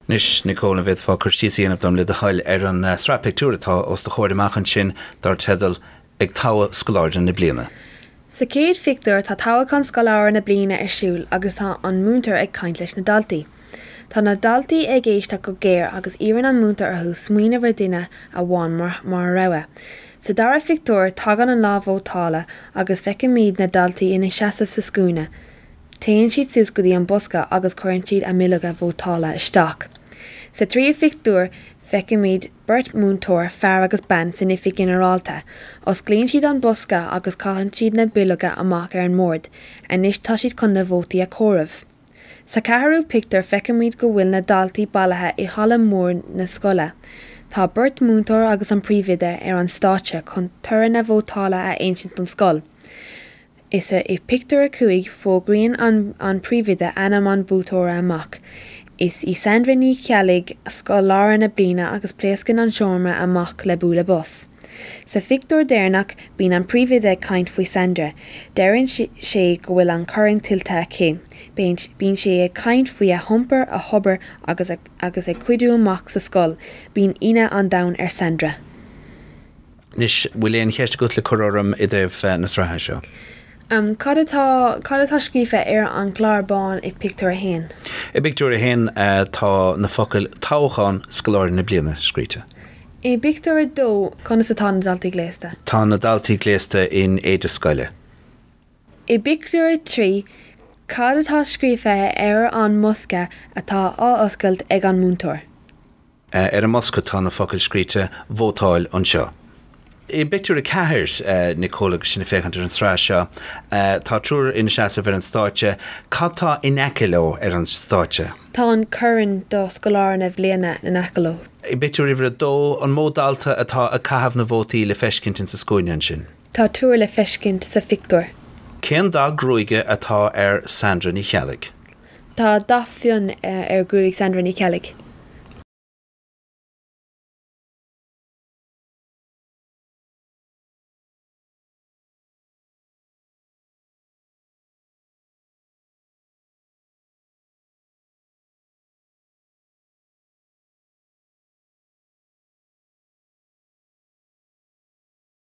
Anois, Nicole, an bhféadfá cur síos a dhéanamh dom, le do thoil, ar an sraith pictiúr atá os do chomhair amach ansin dar teideal 'Ag Toghadh Scoláire na Bliana'? Sa chéad phictiúr, tá toghachán scoláire na bliana ar siúl agus tá an múinteoir ag caint leis na daltaí. Tá na daltaí ag éisteacht go géar agus iarrann an múinteoir orthu smaoineamh ar dhuine amháin mar rogha. Sa dara pictiúr, tagann an lá vótála agus feicimid na daltaí ina seasamh sa scuaine. Téann siad suas go dtí an bosca agus cuireann siad a mbileoga vótála isteach. Sa tríú pictiúr feicimid beirt mhúinteoir, fear agus bean, san oifig ghinearálta. Osclaíonn siad an bosca agus caitheann siad na bileoga amach ar an mbord. Anois tá siad chun na vótaí a chomhaireamh. Sa cheathrú pictiúr feicimid go bhfuil na daltaí bailithe i halla mór na scoile. Tá beirt mhúinteoir agus an príomhoide ar an stáitse chun toradh na vótála a insint don scoil. Is ea, i bpictiúr a cúig, fógraíonn an príomhoide ainm an bhuaiteora amach. Is í Sandra Ní Cheallaigh scoláire na bliana agus pléascann an seomra amach le bualadh bos. Sa phictiúr deireanach, bíonn an príomhoide ag caint faoi Sandra. Deireann sé go bhfuil an corn tuillte aici. Bíonn sé ag caint faoi a hiompar, a hobair agus ag cuidiú amach sa scoil. Bíonn ionadh an domhain ar Sandra. Anois, bhfuil aon cheist agat le cur orm i dtaobh na sraithe seo? Cad atá scríofa ar an gclár bán i bpictiúr a haon? I bpictiúr a haon tá na focail Toghachán Scoláire na Bliana scríte. I bpictiúr a dó, conas atá na daltaí gléasta? Tá na daltaí gléasta in éide scoile. I bpictiúr a trí, cad atá scríofa ar an mbosca atá á oscailt ag an múinteoir? Ar an mbosca tá na focail scríte 'Vótáil anseo'. I bpictiúr a ceathair, Nicole, agus sinn ag féachaint ar an sraith seo. Tá triúr ina seasamh ar an stáitse. Cad tá in aice leo ar an stáitse? Tá an corn do scoláire na bliana in aice leo. I bpictiúr uimhir a dó, An mó dalta atá ag caitheamh na vótaí le feiscint insa scuaine ansin? Tá triúr le feiscint sa phictiúr. Cén dath gruaige atá ar Sandra Ní Cheallaigh? Tá dath fionn ar ghruaig Sandra Ní Cheallaigh.